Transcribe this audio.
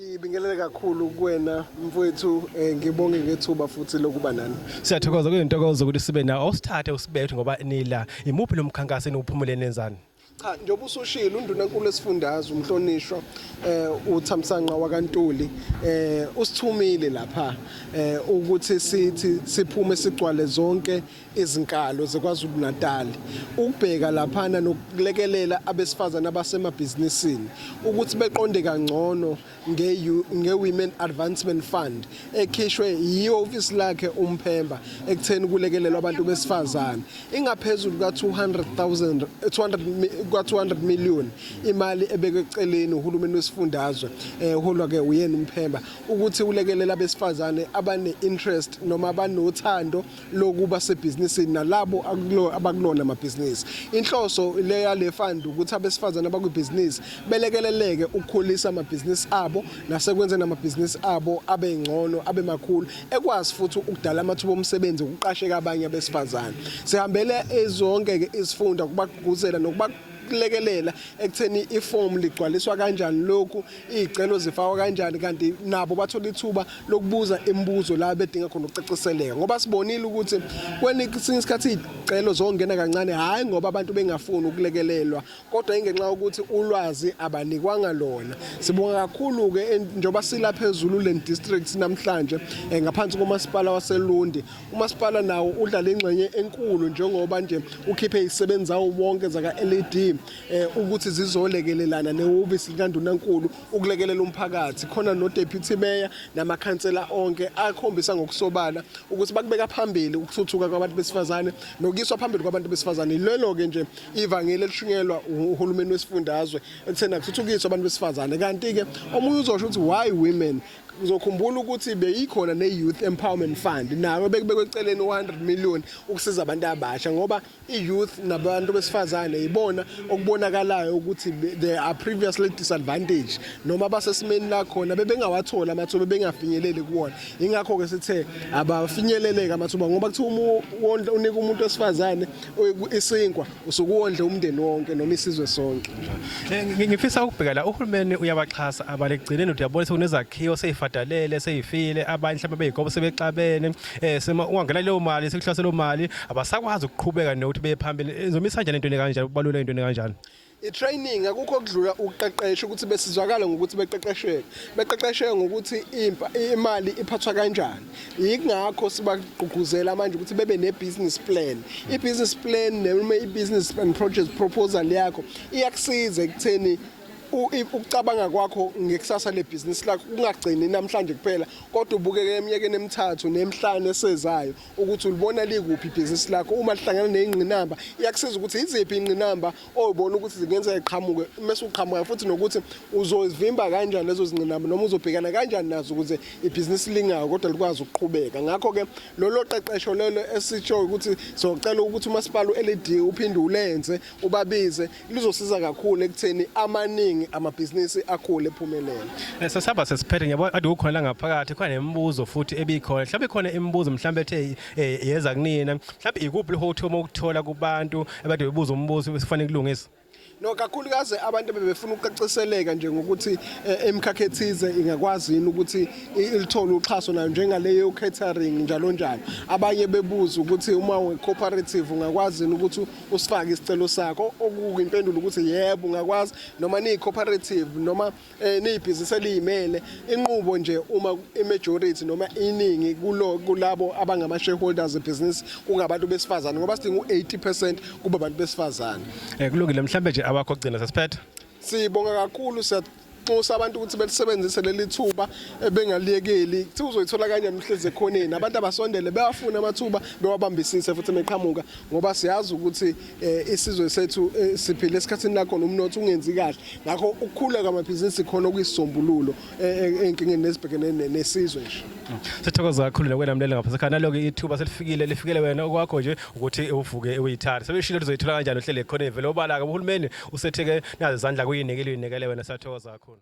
Ngibingelele kakhulu kuwena mfowethu eh, ngibonge ngethuba futhi lokuba nani. Siyathokoza kuyintokozo ukuthi sibe nawo awusithathe usibethe ngoba nila imuphi lo mkhankaso eniwuphumule nenzani? Cha njengoba usushilo undunankulu esifundazwe umhlonishwa eh uThamsanqa wakaNtuli eh usithumile lapha eh ukuthi sithi siphume sigcwale zonke ezinkalo zeKwaZulu-Natal ukubheka laphana nokulekelela abesifazane abasemabhizinisini ukuthi beqonde kangcono nge-Women Advancement Fund ekhishwe yihhovisi lakhe uMphemba ekutheni kulekelelwa abantu besifazane ingaphezulu ka-200,000 200 million imali ebekwe eceleni uhulumeni wesifundazwe eholwa eh, ke uyena uMphemba ukuthi ulekelela abesifazane abane-interest noma abanothando lokuba sebhizinisini nalabo abakulona amabhizinisi. Inhloso le yale fund ukuthi abesifazane abakwibhizinisi belekeleleke ukukhulisa amabhizinisi abo nasekwenzeni amabhizinisi abo abe ngcono abe makhulu ekwazi futhi ukudala amathuba omsebenzi ukuqasheka abanye abesifazane. Sihambele zonke ke izifunda kubagqugquzela nokuba kulekelela ekutheni ifomu ligcwaliswa kanjani lokhu iy'celo zifakwa kanjani kanti nabo bathola ithuba lokubuza imibuzo la bedinga khona ukucaciseleka ngoba sibonile ukuthi kwesinye isikhathi iy'celo zongena kancane hhayi ngoba abantu bengafuni ukulekelelwa kodwa ingenxa yokuthi ulwazi abanikwanga lona sibonga kakhulu-ke njengoba sila phezulu le district namhlanje um ngaphansi komasipala waselundi umasipala nawo udlale ingxenye enkulu njengoba nje ukhiphe izisebenzi zawo wonke zaka-led eh ukuthi zizolekelelana nehhovisi likandunankulu ukulekelela umphakathi khona no deputy mayor namakhansela onke akhombisa ngokusobala ukuthi bakubeka phambili ukuthuthuka kwabantu besifazane nokuyiswa phambili kwabantu besifazane lelo ke nje ivangeli elishunyelwa uhulumeni wesifundazwe ekuthena kuthuthukiswa abantu besifazane kanti ke omunye uzosho ukuthi why women uzokhumbula ukuthi beyikhona ne-youth empowerment fund nayo bekubekwe eceleni 100 million ukusiza abantu abasha ngoba i-youth nabantu besifazane yibona okubonakalayo ukuthi they are previously disadvantaged noma basesimeni la khona bebengawatholi amathuba bengafinyeleli kuwona ingakho-ke sithe abafinyeleleke amathuba ngoba kuthiwa uma unika umuntu wesifazane isinkwa usukuwondle umndeni wonke noma isizwe sonke eh, ngifisa ukubheka la uhulumeni uyabaxhasa abalegcineni uthi yabona sekunezakhiwo seyifadalele seyifile abanye mhlawumbe beyigobo sebexabene eh sema ungangena leyo mali sekuhlase leyo mali abasakwazi ukuqhubeka nokuthi beye phambili izomisa kanjani into kanjani ubalule into kanjani i-training akukho okudlula ukuqeqesha ukuthi besizwakala ngokuthi beqeqesheke beqeqesheke ngokuthi imali iphathwa kanjani yingakho sibagqugquzela manje ukuthi bebe ne-business plan i-business plan noma i-business and project proposal yakho iyakusiza ekutheni ukucabanga kwakho ngekusasa lebhizinisi lakho kungagcini namhlanje kuphela kodwa ubukeke eminyakeni emithathu nemhlanu esezayo ukuthi ulibona likuphi ibhizinisi lakho uma lihlangana neyingqinamba iyakusiza ukuthi iziphi ingqinamba oyibona ukuthi zingenzeka iqhamuke mase uqhamuka futhi nokuthi uzozivimba kanjani lezo zingqinamba noma uzobhekana kanjani nazo ukuze ibhizinisi lingayo kodwa likwazi ukuqhubeka ngakho ke lolo qeqesho lelo esitsho ukuthi socela ukuthi umasipala uLED uphinde ulenze ubabize lizosiza kakhulu ekutheni amaningi amabhizinisi akhule ephumelele eh, sesihamba sesiphethe ngiyabona ade kukhona la ngaphakathi khona nemibuzo futhi ebikhona mhlawumbe ikhona imibuzo mhlawumbe ethe eh, yeza kunina mhlawumbe ikuphi lihothi uma ukuthola kubantu ebade bebuza umbuzo esifanele kulungisa no kakhulukazi abantu bebefuna ukucaciseleka nje ngokuthi eh, emkhakhe ethize ingakwazi yini ukuthi ilithole uxhaso nayo njengaleyo catering njalo njalo abanye bebuza ukuthi uma we cooperative ungakwazi yini ukuthi usifake isicelo sakho okuyimpendulo ukuthi yebo ungakwazi noma niyi-cooperative noma eh, niyibhizinisi eliyimele inqubo nje uma i-majority noma iningi kulo kulabo abangama-shareholders ebhizinisi kungabantu besifazane ngoba sidinga u-80 percent kube abantu besifazane um kulungile mhlawumbe nje abakho kugcina sesiphetha Sibonga kakhulu nxusa abantu ukuthi belisebenzise leli thuba ebengaliyekeli kuthi uzoyithola kanjani uhlezi ekhoneni abantu abasondele bewafune amathuba bewabambisise futhi meqhamuka ngoba siyazi ukuthi eh, isizwe sethu eh, siphile esikhathini la khona umnotho ungenzi kahle ngakho ukukhula kwamabhizinisi khona okuyisisombululo eh, enkingeni nezibhekene nesizwe nje sithokoza kakhulu nokwelamlela ngapha sekhaya naloke ithuba selifikile lifikele wena okwakho nje ukuthi uvuke uyithanda sebeshilo lizoyithola kanjani uhlele khona vele obala-ke uhulumeni usethi ke nazi izandla kuyinikile uyinikele wena sathokoza kakhulu